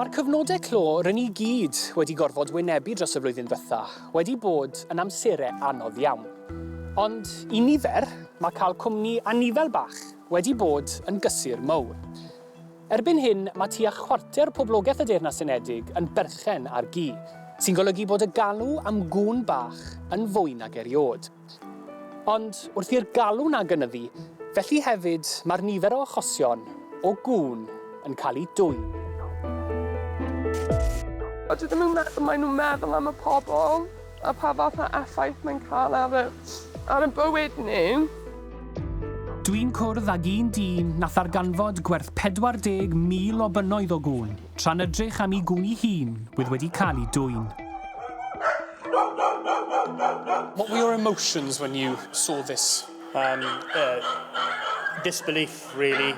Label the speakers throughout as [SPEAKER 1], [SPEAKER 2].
[SPEAKER 1] Mae'r cyfnodau clo rŷn ni gyd wedi gorfod wynebu dros y flwyddyn ddytha wedi bod yn amserau anodd iawn. Ond i nifer, mae cael cwmni anifail bach wedi bod yn gysur mowr. Erbyn hyn, mae tua chwarter poblogaeth y Deyrnas Unedig yn berchen ar gi, sy'n golygu bod y galw am gŵn bach yn fwy nag eriôd. Ond, wrth i'r galw 'na gynyddu, felly hefyd mae'r nifer o achosion o gŵn yn cael eu dwyn.
[SPEAKER 2] Dydyn nhw'm yn meddwl, maen nhw'n meddwl am y pobl. a pa fath o effaith mae'n cael ar y, ar y bywyd nhw.
[SPEAKER 1] Dwi'n cwrdd ag un dyn na ddarganfod gwerth 40,000 o bunnoedd o gŵn, tra'n ydrych am i gŵn i hun wydd wedi cael i dwyn.
[SPEAKER 3] What were your emotions when you saw this? Um, uh,
[SPEAKER 4] disbelief, really.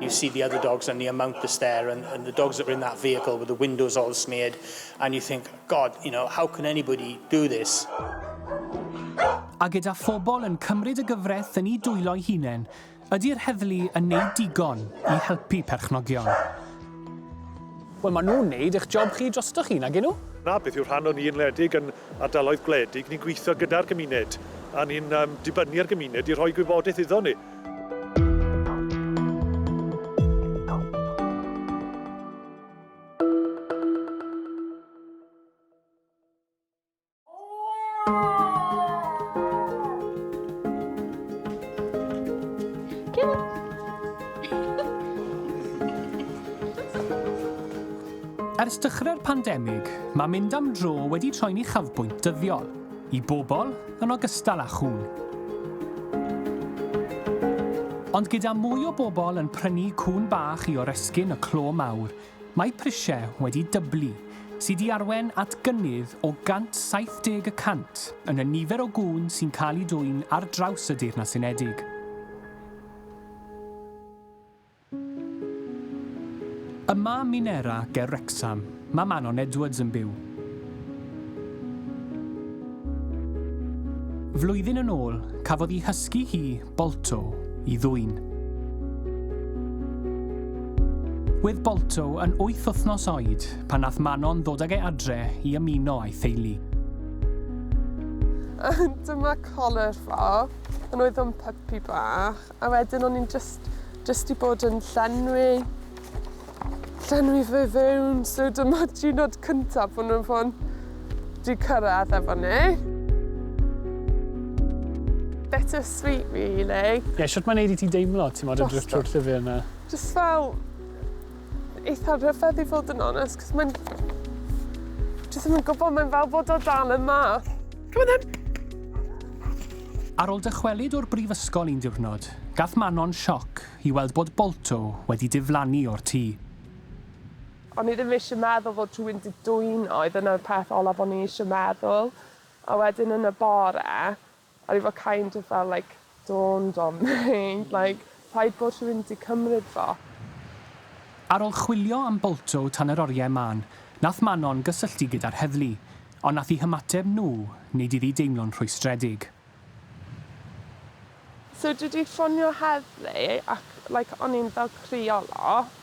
[SPEAKER 4] You see the other dogs and the amount that's there, and, and the dogs that were in that vehicle with the windows all smeared, and you think, God, you know, how can anybody do this?
[SPEAKER 1] A gyda phobl yn cymryd y gyfraith yn eu dwylo'i hunain, ydy'r heddlu yn neud digon i helpu perchnogion?
[SPEAKER 3] Wel, maen nhw'n neud eich job chi drostoch chi, nagyn nhw? Na, beth yw rhan o'n i
[SPEAKER 5] yn wledig yn ardaloedd gwledig, ni'n gweithio gyda'r gymuned, a ni'n um, dibynnu ar gymuned i rhoi gwybodaeth iddo ni.
[SPEAKER 1] Ers dechrau'r pandemig, mae mynd am dro wedi troi'n uchafbwynt dyddiol. I bobl, yn ogystal â chŵn. Ond gyda mwy o bobl yn prynu cŵn bach i oresgyn y clo mawr, mae prisiau wedi dyblu, sydd di arwain at gynnydd o 170 y cant yn y nifer o gŵn sy'n cael eu dwyn ar draws y Deyrnas Unedig. Yma ym Minera ger Wrecsam, mae Manon Edwards yn byw. Flwyddyn yn ôl, cafodd i hysgu hi, Bolto, i ddwyn. Wedd Bolto yn wyth wythnos oed pan nath Manon ddod ag e adre i ymuno a'i theulu.
[SPEAKER 2] Dyma colur fo, pan oedd o'n pypi bach. A wedyn o'n i'n jyst, jyst i bod yn llenwi, llenwi fe fewn. So dyma diwrnod cyntaf bod nhw'n fod di cyrraedd efo ni. Better sweet, really. Ie, yeah, sut mae'n neud i ti
[SPEAKER 3] deimlo, ti'n modd, yn drwy'r llyfr yna? Just fel,
[SPEAKER 2] eitha rhyfedd i fod yn onest, cos mae'n... Jyst ddim yn gwybod, mae'n fel bod o dal yma. Come on then! Ar ôl
[SPEAKER 1] dychwelyd o'r brifysgol un diwrnod, gath Manon sioc i weld bod Bolto wedi diflannu o'r tŷ.
[SPEAKER 2] O'n i ddim eisiau meddwl fod rhywun wedi dwyno i, dyna'r peth olaf o'n i eisiau meddwl. A wedyn yn y bore, A fi fel kind of fel like dawned on me like rhaid bod rhywun 'di cymryd fo.
[SPEAKER 1] Ar ol chwilio am Balto tan yr oriau mân, nath Manon gysylltu gyda'r heddlu, ond nath i hymateb nhw neud i fi deimlo'n rhwystredig.
[SPEAKER 2] So dwi 'di ffonio heddlu ac like o'n i'n fel crio lot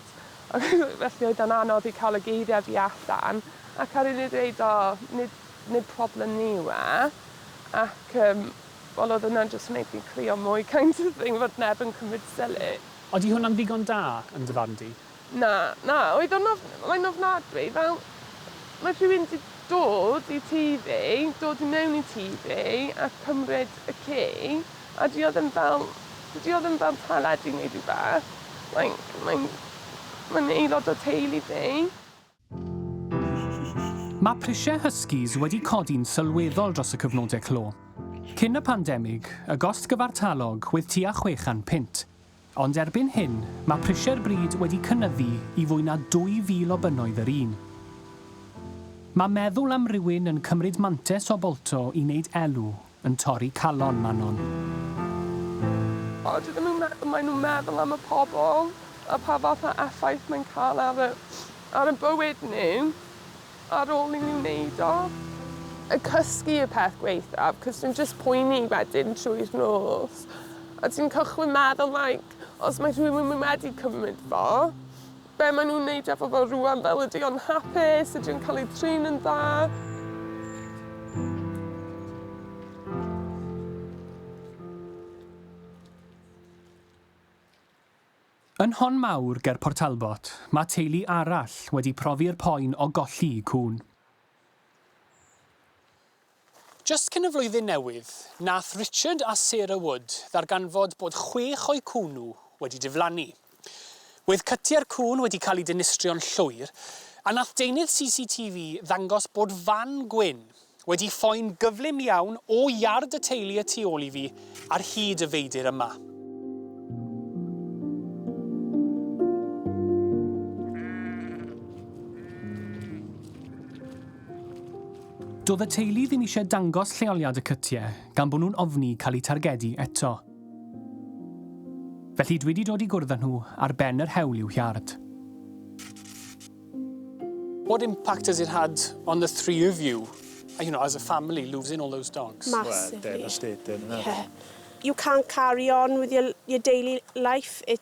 [SPEAKER 2] felly oedd e'n anodd i cael y geiriau fi allan ac ar ol i ddeud o nid nid problem ni yw e, ac yym, wel oedd hwnna'n jyst yn wneud fi crio mwy kind of thing, fod neb yn cymryd sylw. Odi hwnna'n ddigon
[SPEAKER 3] da, yn dy farn di? Na, na,
[SPEAKER 2] oedd o'n of-, mae'n ofnadwy, fel, mae rhywun 'di dod i tŷ fi, dod i mewn i tŷ fi a cymryd y ci, a 'di o ddim fel, dydi o ddim fel teledu neu rhywbeth, like, mae'n, mae'n aelod o teulu fi.
[SPEAKER 1] Mae prisiau Huskies wedi codi'n sylweddol dros y cyfnodau clo. Cyn y pandemig, y gost gyfartalog oedd tua 600 punt, ond erbyn hyn, mae prisiau'r brid wedi cynyddu i fwy na 2,000 o bunnoedd yr un. Mae meddwl am rywun yn cymryd mantes o Bolto i wneud elw Yn torri calon Manon. O,
[SPEAKER 2] dydyn nhw'm meddwl, maen nhw'n meddwl am y pobl a pa fath o effaith mae'n cael ar y, ar y bywyd nhw ar ôl i nhw wneud o. A cysgu y peth gwaethaf, cos dwi'n jyst poeni wedyn trwy'r nos, a ti'n cychwyn meddwl like, os mae rhywun wedi cymryd fo, Be maen nhw'n wneud efo fo rŵan? Fel ydy o'n hapus? Ydy o'n cael ei trin yn dda?
[SPEAKER 1] Yn Hon Mawr ger Port Talbot, mae teulu arall wedi profi'r poen o golli cŵn. Jyst cyn y Flwyddyn Newydd, nath Richard a Sarah Wood ddarganfod bod chwech o'u cŵn nhw wedi diflannu. Wedd cytiau'r cŵn wedi cael eu dinistrio'n llwyr, a nath deunydd CCTV ddangos bod fan gwyn wedi ffoi'n gyflym iawn o iard y teulu y tu ôl i fi ar hyd y feidr yma. Doedd y teulu ddim eisiau dangos lleoliad y cytiau gan bod nhw'n ofni cael eu targedu eto. Felly dwi 'di dod i gwrdd â nhw ar ben yr hewl i'w hiard. What impact has it had on the three of you, you know, as a family, losing all those dogs? Massively. Well, devastating,
[SPEAKER 6] isn't it?
[SPEAKER 5] Yeah. You can't
[SPEAKER 6] carry on with your, your daily life. It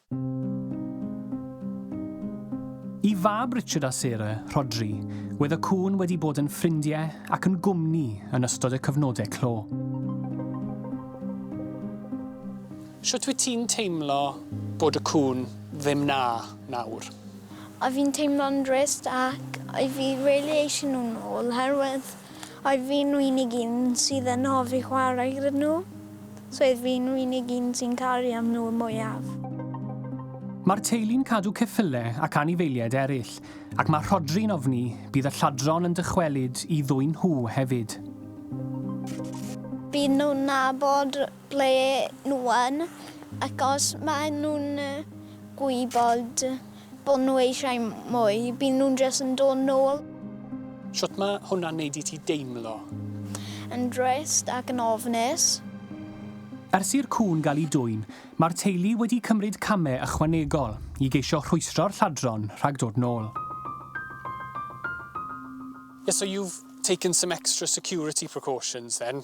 [SPEAKER 1] Y fab Richard a Sarah, Rhodri, wedd y cŵn wedi bod yn ffrindie ac yn gwmni yn ystod y cyfnode clo. Shwt wyt ti'n teimlo bod y cŵn ddim 'na nawr? O fi'n
[SPEAKER 7] teimlo'n drist ac o fi rili eisiau nhw nôl oherwydd Oedd fi'n unig un sydd yn hoffi chwarae gyda nhw, so oedd fi'n unig un sy'n caru am nhw y mwyaf.
[SPEAKER 1] Mae'r teulu'n cadw ceffyle ac anifeiliaid eraill, ac mae Rhodri'n ofni bydd y lladron yn dychwelyd i ddwyn nhw hefyd.
[SPEAKER 7] Bydden nhw'n nabod ble nhw yn, ac os maen nhw'n gwybod bod nhw eisiau mwy, bydden nhw'n jyst yn dod nôl. Shwt ma'
[SPEAKER 1] hwnna'n neud i ti deimlo? Yn
[SPEAKER 7] drist ac yn ofnus.
[SPEAKER 1] Ers i'r cŵn gael ei dwyn, mae'r teulu wedi cymryd camau ychwanegol i geisio rhwystro'r lladron rhag dod nôl. Yeah, so you've taken some extra security precautions then?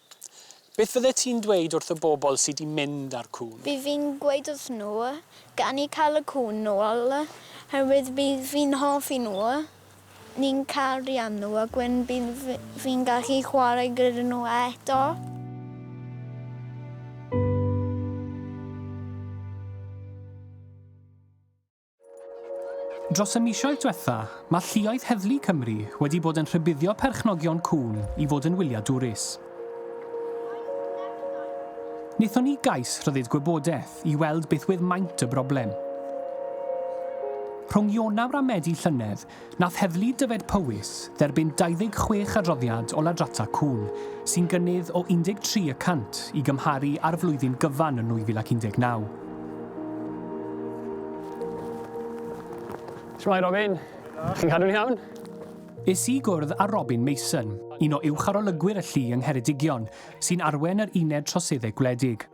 [SPEAKER 5] Beth
[SPEAKER 1] fyddet ti'n dweud wrth y bobl sy 'di mynd â'r cŵn? Bydd fi'n gweud wrth
[SPEAKER 7] nhw, gawn ni cael y cŵn nôl, oherwydd bydd fi'n hoffi nhw, ni'n cariad nhw ac wedyn bydd fi'n gallu chwarae gyda nhw eto.
[SPEAKER 1] Dros y misoedd diwetha, mae lluoedd heddlu Cymru wedi bod yn rhybuddio perchnogion cŵn i fod yn wyliau dwrus. Wnaethon ni gais rhyddid gwybodaeth i weld beth wedd maint y broblem. Rhwng Ionawr a Medi llynedd, Nath Heddlu Dyfed-Powys dderbyn 26 adroddiad o ladrata cŵn, sy'n gynnydd o 13 y cant i gymharu â'r flwyddyn gyfan yn 2019.
[SPEAKER 3] Shwmae Robin! Chi'n cadw'n iawn? Es i
[SPEAKER 1] gwrdd â Robin Mason, un o uwch-arolygwyr y llu yng Ngheredigion, sy'n arwen yr Uned Troseddau Gwledig.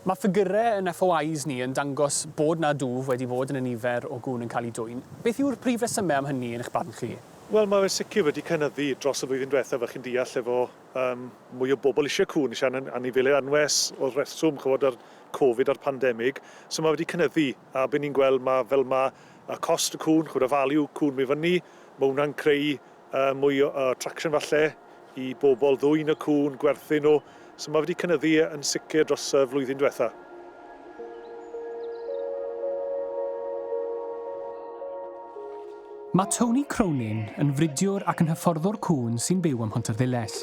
[SPEAKER 1] Mae ffigyrau yn FOIs ni yn dangos bod 'na dwf wedi bod yn y nifer o gŵn yn cael eu dwyn. Beth yw'r prif resymau am hynny, yn eich barn chi? Wel, mae fe sicr
[SPEAKER 5] wedi cynyddu dros y flwyddyn diwethaf, fel chi'n deall, efo yym mwy o bobl eisiau cŵn, eisiau an- anifeiliaid anwes o'r rheswm, chimod, a'r Covid a'r pandemig. So mae wedi cynyddu, a be ni'n gweld, ma', fel ma' y cost y cŵn, chimod, y value cŵn myn' i fyny, ma' hwnna'n creu Yy mwy o yy traction falle i bobl ddwyn y cŵn, gwerthu nhw, so ma' wedi cynyddu yn sicr dros y flwyddyn dwetha.
[SPEAKER 1] Mae Tony Cronin yn fridiwr ac yn hyfforddwr cŵn sy'n byw ym Mhontyrddiles.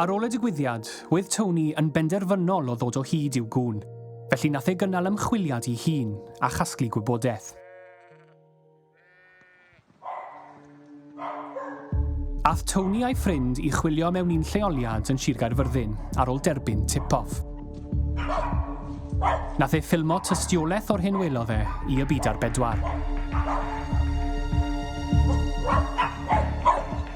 [SPEAKER 1] Ar ôl y digwyddiad, oedd Tony yn benderfynol o ddod o hyd i'w gŵn, felly nath e gynnal ymchwiliad i hun a chasglu gwybodaeth. Ath Tony a'i ffrind i chwilio mewn un lleoliad yn Sir Gaerfyrddin ar ôl derbyn tip-off. Nath e ffilmo tystiolaeth o'r hyn welodd e i y byd ar bedwar.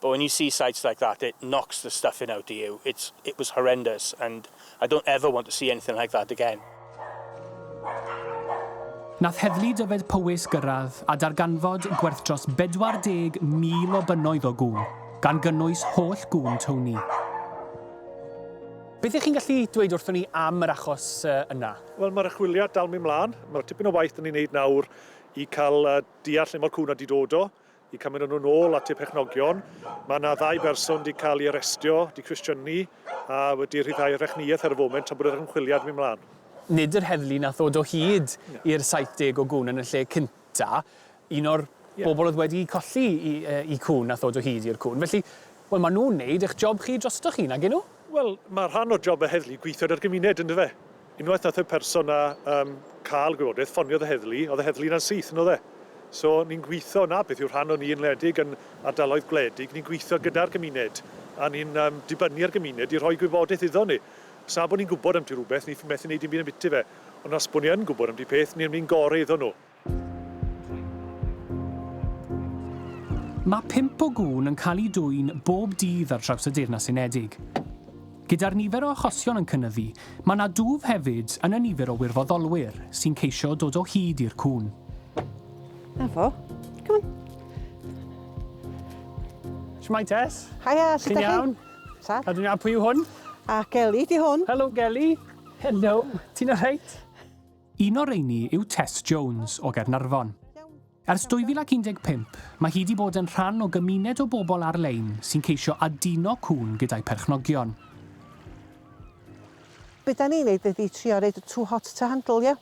[SPEAKER 4] But when you see sites like that it knocks the stuffing out of you, it's it was horrendous and I don't ever want to see anything like that again.
[SPEAKER 1] Nath Heddlu Dyfed Powys gyrraedd a darganfod gwerth dros 40,000 o bunnoedd o gŵn, gan gynnwys holl gŵn Tony.
[SPEAKER 3] Beth ych chi'n gallu dweud wrthon ni am yr achos yna? Wel, mae'r archwiliad
[SPEAKER 5] dal mynd mlaen. Mae'r tipyn o waith da ni'n neud nawr i cael deall lle mae'r cŵn wedi dod o. Y cymuned nhw nôl at y perchnogion. Mae yna ddau berson wedi cael ei arestio, wedi cwestiynu a wedi rhyddhau rechniaeth ar y foment tra bod yr ymchwiliad mynd mlaen. Nid yr heddlu
[SPEAKER 3] nath ddod o hyd i'r 70 o gŵn yn y lle cynta. Un o'r bobl oedd wedi colli i i cŵn nath ddod o hyd i'r cŵn. Felly, wel ma' nhw'n neud eich job chi drostoch chi, nagyn nhw? Wel, ma' rhan o
[SPEAKER 5] job y heddlu gweithio 'da'r gymuned, yndyfe? Unwaith nath y person 'na yym ca'l gwybodaeth, ffoniodd y heddlu, o'dd y heddlu 'na'n syth on'd o'dd e? So ni'n gwitho, 'na beth yw rhan o ni yn wledig yn ardaloedd gwledig, ni'n gwitho gyda'r gymuned a ni'n yym dibynnu ar gymuned i rhoi gwybodaeth iddo ni. Os na bo' ni'n gwbod ambyti rwbeth ni methu neud dim byd ambyti fe, ond os bo' ni yn gwbod ambyti peth ni myn' i gore iddo nw.
[SPEAKER 1] Mae pump o gŵn yn cael eu dwyn bob dydd ar draws y Deyrnas Unedig. Gyda'r nifer o achosion yn cynyddu, mae 'na dwf hefyd yn y nifer o wirfoddolwyr sy'n ceisio dod o hyd i'r cŵn. Na
[SPEAKER 8] fo. Come
[SPEAKER 3] on. Shwmae Tess? Haia, sut Ti'n iawn?
[SPEAKER 8] Sa?
[SPEAKER 3] A dwi'n iawn, pwy
[SPEAKER 8] yw hwn?
[SPEAKER 3] A Gelly, di
[SPEAKER 8] hwn. Helo Gelly.
[SPEAKER 3] Helo. Ti'n alright? Un o'r
[SPEAKER 1] rheiny yw Tess Jones, o Gaernarfon. Ers 2015, mae hi wedi bod yn rhan o gymuned o bobl ar-lein sy'n ceisio aduno cŵn gyda'u perchnogion.
[SPEAKER 8] Be da ni'n neud ydi trio roid y too hot to handle ie?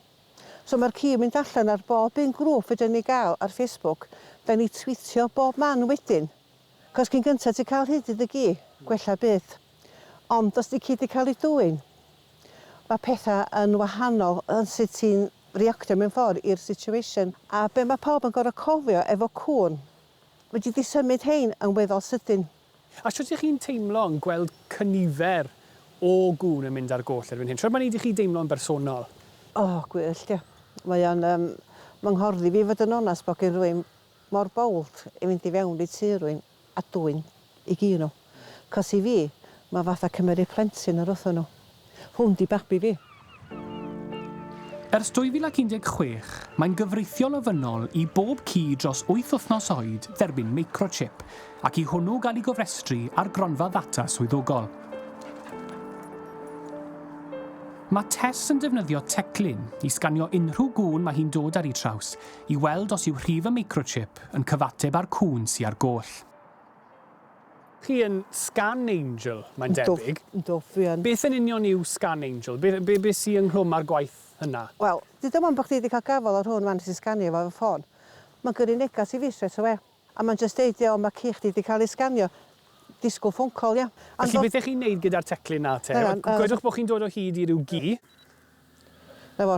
[SPEAKER 8] So mae'r ci yn mynd allan ar bob un grŵp fedrwn ni gael ar Facebook, da ni twîtio bob man wedyn. Cos cyn gynta ti'n cael hyd i dy gi, gwella byth. Ond os di ci di cael ei dwyn, mae pethau yn wahanol yn sut ti'n reactio mewn ffordd i'r situation. A be mae pawb yn gorfod cofio efo cŵn, fedri di symud hein yn weddol sydyn. A
[SPEAKER 3] shwt ych chi'n teimlo yn gweld cynifer o gŵn yn mynd ar goll erbyn hyn? Shwt mae'n neud i chi deimlo yn bersonol? O, gwyllt,
[SPEAKER 8] ie. Mae o'n yym fy nghorddi fi fod yn onast bod gen rywun mor bold i fynd i fewn i tŷ rywun. a dwyn i gi nhw. Cos i fi, mae fatha cymeru plentyn o'r wrthon nhw. Hwn 'di babi fi.
[SPEAKER 3] Ers 2016, mae'n gyfreithiol ofynnol i bob ci dros wyth wythnos oed dderbyn microchip ac i hwnnw gael ei gofrestru ar gronfa ddata swyddogol. Mae Tess yn defnyddio teclyn i sganio unrhyw gŵn mae hi'n dod ar eu traws, i weld os yw rhif y microchip yn cyfateb â'r cŵn sy ar goll. Chi yn Scan Angel, mae'n debyg. Yndw, dwi yn. Beth
[SPEAKER 8] yn union yw Scan
[SPEAKER 3] Angel? Be, be, be sy ynghlwm â'r gwaith yna? Wel, deuda 'wan bod
[SPEAKER 8] chdi wedi cael gafael ar hwn 'wan nes i sganio fo efo ffôn. Mae'n gyrru negas i fi strêt awe. A mae'n jyst deud iawn mae ci chdi 'di cael ei sganio. Disgwyl ffôn call ia? Felly beth 'dych chi'n neud
[SPEAKER 3] gyda'r teclyn 'na te? Gwedwch bod chi'n dod o hyd i ryw gi.
[SPEAKER 8] Na fo.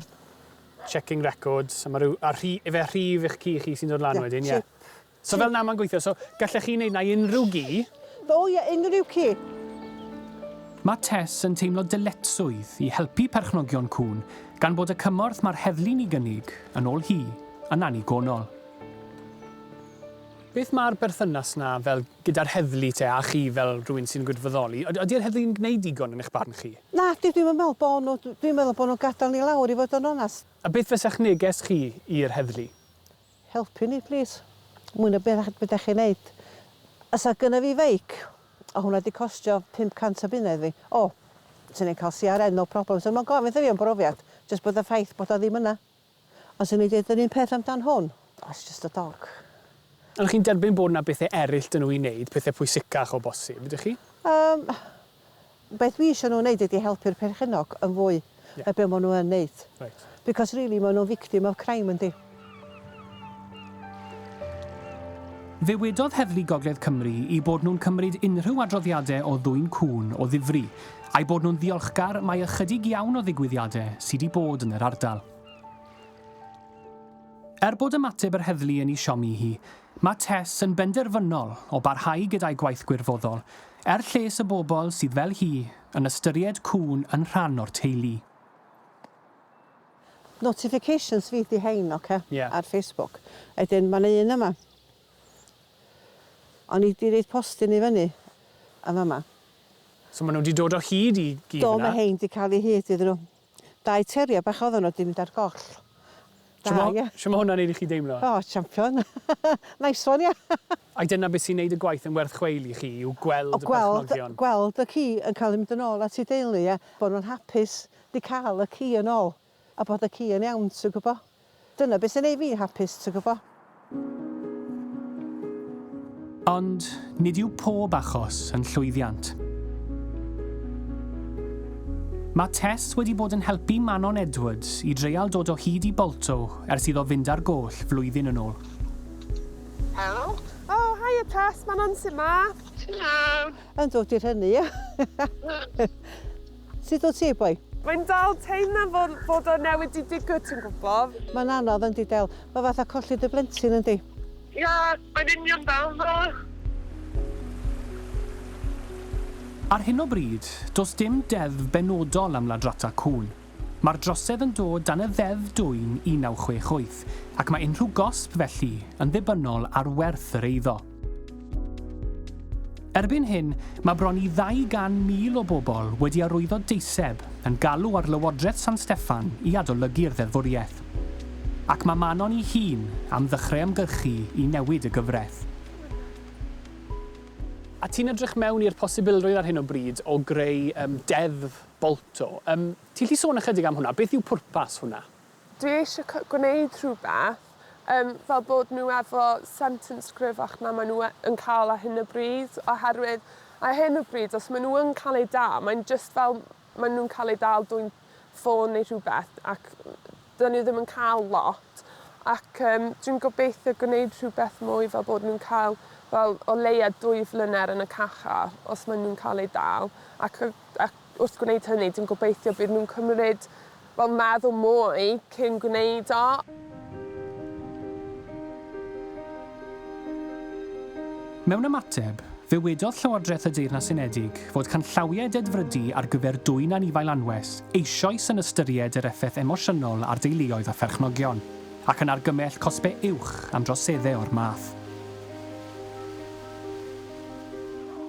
[SPEAKER 8] Checking
[SPEAKER 3] records a ma' ryw a rhi- ife rhif eich ci chi sy'n dod lan wedyn ie? So fel 'na mae'n gweithio so gallech chi neud 'na i unrhyw gi? O ie unrhyw
[SPEAKER 8] ci.
[SPEAKER 3] Mae Tess yn teimlo dyletswydd i helpu perchnogion cŵn gan bod y cymorth mae'r heddlu'n ei gynnig, yn ôl hi, yn annigonol. Beth mae'r berthynas 'na fel gyda'r heddlu te, a chi fel rhywun sy'n gwirfoddoli? Yd- ydi'r heddlu'n gwneud digon yn eich barn chi? Nadi, dwi'm yn meddwl bo'
[SPEAKER 8] nhw. Dw- dwi'n meddwl bo' nhw'n gadael ni lawr i fod yn onast. A beth fysa'ch neges
[SPEAKER 3] chi i'r heddlu? Helpu ni
[SPEAKER 8] plîs. Mwy na beth be' 'dach chi'n neud. Fysa gynna fi feic, o' hwnna 'di costio pump cant o bunnoedd fi. O! Swn i'n cael CRN no problem. Swn i'm yn gofyn wrtha fi am brofiad, jyst bod y ffaith bod o ddim yna. Ond swn i'n deud yr un peth amdan hwn. Oh it's just a dog. Ond y'ch chi'n
[SPEAKER 3] derbyn bod 'na bethe eryll 'da nhw i neud, pethe pwysicach o bosib, ydych chi? Yym,
[SPEAKER 8] beth fi isio nhw neud ydi helpu'r perchennog yn fwy na be' ma' nhw yn neud. Reit. Because really
[SPEAKER 3] ma' nhw'n
[SPEAKER 8] victim of crime yndi?
[SPEAKER 3] Ddywedodd Heddlu Gogledd Cymru 'u bod nhw'n cymryd unrhyw adroddiade o ddwyn cŵn o ddifri, A'u bod nhw'n ddiolchgar mai ychydig iawn o ddigwyddiadau sy' 'di bod yn yr ardal. Er bod ymateb yr heddlu yn 'i siomi hi, mae Tess yn benderfynol o barhau gyda'i gwaith gwirfoddol er lles y bobl sydd fel hi yn ystyried cŵn yn rhan o'r teulu.
[SPEAKER 8] Notifications fi 'di hein ocê? Ie. Ar Facebook. Wedyn ma' 'na un yma. O'n i 'di roid postyn i fyny yn fama. So ma' nw
[SPEAKER 3] 'di dod o hyd i gi fyn 'na? Do ma' rhein 'di ca'l 'u
[SPEAKER 8] hyd iddyn nw. Dau terrier bach oddan nw 'di mynd ar goll. Da ia? Shw
[SPEAKER 3] ma' shw ma' hwnna'n neud i chi deimlo? O champion.
[SPEAKER 8] Nice one ia? Ai dyna be' sy'n neud
[SPEAKER 3] y gwaith yn werth chweil i chi yw gweld y perchnogion? O gweld gweld y ci yn
[SPEAKER 8] ca'l 'i mynd yn ôl at 'i deulu a bo' nw'n hapus 'di ca'l y ci yn ôl. A bod y ci yn iawn, ti'n gwybod? Dyna beth sy'n neud fi'n hapus, ti'n gwybod?
[SPEAKER 3] Ond nid yw pob achos yn llwyddiant. Mae Tess wedi bod yn helpu Manon Edwards i dreial dod o hyd i Balto ers iddo fynd ar goll flwyddyn yn ôl.
[SPEAKER 2] Helo. O, haia Tess, Manon, sut mae? Ti'n iawn?
[SPEAKER 9] Yn dod i'r hynny,
[SPEAKER 8] ie. Sut wyt ti, boi? Mae'n dal teimlad
[SPEAKER 2] fel bod o newydd 'di digwydd, ti'n gwybod? Mae'n anodd, yndi, Del.
[SPEAKER 8] Mae fatha colli dy blentyn, yndi? Ia,
[SPEAKER 9] mae'n union fel 'na.
[SPEAKER 3] Ar hyn o bryd, does dim deddf benodol am ladrata cŵn. Mae'r drosedd yn dod dan y Ddeddf Dwyn 1968 ac mae unrhyw gosb felly yn ddibynnol ar werth yr eiddo. Erbyn hyn, mae bron i 200,000 o bobl wedi arwyddo deiseb yn galw ar Lywodraeth San Steffan i adolygu'r ddeddfwriaeth. Ac mae Manon ei hun am ddechrau ymgyrchu i newid y gyfraith. A ti'n edrych mewn i'r posibilrwydd ar hyn o bryd o greu Deddf Balto. Ti'n gallu sôn ychydig am hwnna? Beth yw pwrpas hwnna? Dwi eisiau c-
[SPEAKER 2] gwneud rhywbeth, um, fel bod nhw efo sentence cryfach na maen nhw e- yn cael ar hyn o bryd, oherwydd ar hyn o bryd, os maen nhw yn cael eu dal, mae'n just fel maen nhw'n cael eu dal dwy'n ffôn neu rhywbeth, ac dyn nhw ddim yn cael lot. Ac um, dwi'n gobeithio gwneud rhywbeth mwy fel bod nhw'n cael fel o leia dwy flyner yn y cacha os maen nhw'n cael eu dal, ac, ac Wrth gwneud hynny, dwi'n gobeithio bydd nhw'n cymryd, wel, meddwl mwy cyn gwneud o.
[SPEAKER 3] Mewn ymateb, fe wedodd Llywodraeth y Deyrnas Unedig fod canllawiau dedfrydu ar gyfer dwyn anifail anwes eisoes yn ystyried yr effaith emosiynol ar deuluoedd a pherchnogion, ac yn argymell cosbau uwch am droseddau o'r math.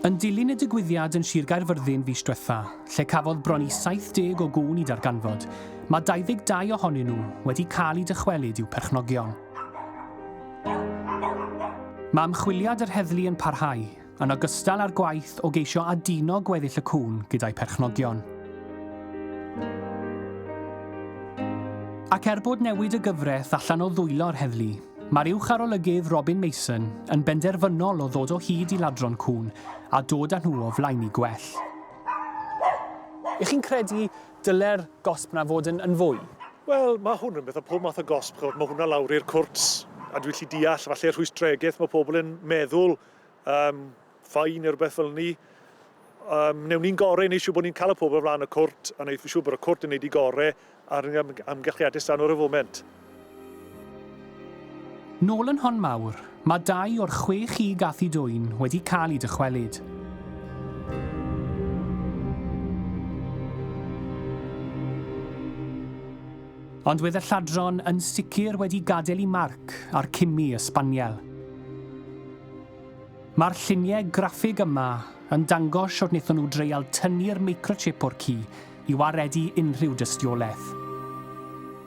[SPEAKER 3] Yn dilyn y digwyddiad yn Sir Gaerfyrddin fis diwetha', lle cafodd bron i 70 o gŵn i darganfod, mae 22 ohonyn nhw wedi cael eu dychwelyd i'w perchnogion. Mae ymchwiliad yr heddlu yn parhau, yn ogystal â'r gwaith o geisio aduno gweddill y cŵn gyda'u perchnogion. Ac er bod newid y gyfraith allan o ddwylo'r heddlu, Mae'r uwch-arolygydd Robin Mason yn benderfynol o ddod o hyd i ladron cŵn a dod â nhw o flaen i gwell.
[SPEAKER 1] Ych chi'n credu dyle'r gosb yna fod yn, yn fwy? Wel, mae hwn
[SPEAKER 5] yn beth o pob math o gosb, chod, mae hwnna lawr i'r cwrt, a dwi'n lli deall, falle rhwystregeth, mae pobl yn meddwl, um, fine neu rhywbeth fel ni. Um, wnewn ni'n gore i wneud siŵr bod ni'n cael y pobl flaen y cwrt a wneud siŵr bod y cwrt yn neud i gore ar am amgylchiadau stan o'r y foment.
[SPEAKER 3] Nôl yn hon mawr, mae dau o'r chwe chig a thu dwyn wedi cael eu dychwelyd. Ond wedd y lladron yn sicr wedi gadael i marc ar cimi y sbaniel. Mae'r lluniau graffig yma yn dangos sut wnaethon nhw dreial tynnu'r microchip o'r ci i waredu unrhyw dystiolaeth.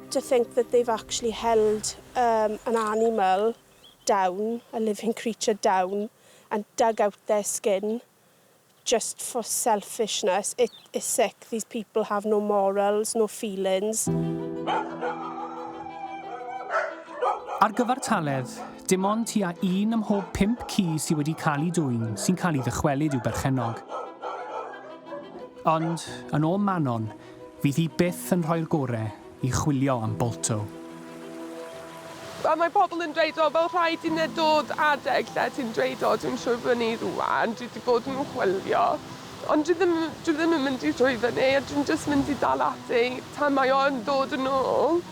[SPEAKER 6] to think that they've actually held um, an animal down, a living creature down, and dug out their skin, Just for selfishness, it is sick, these people have no morals, no feelings.
[SPEAKER 3] Ar gyfartaledd, dim ond tua un ym mhob pump ci sydd wedi cael ei dwyn sy'n cael ei ddychwelyd i'w berchennog. Ond, yn ôl Manon, Fydd hi byth yn rhoi'r gore i chwilio am Balto.
[SPEAKER 2] A mae pobl yn dweud o fel rhaid i ne dod adeg lle ti'n dweud o dwi'n troi fyny rwan dwi di bod yn chwilio ond dwi ddim dwi ddim yn mynd i troi fyny a dwi'n jyst mynd i dal ati tan mae o yn dod yn ôl.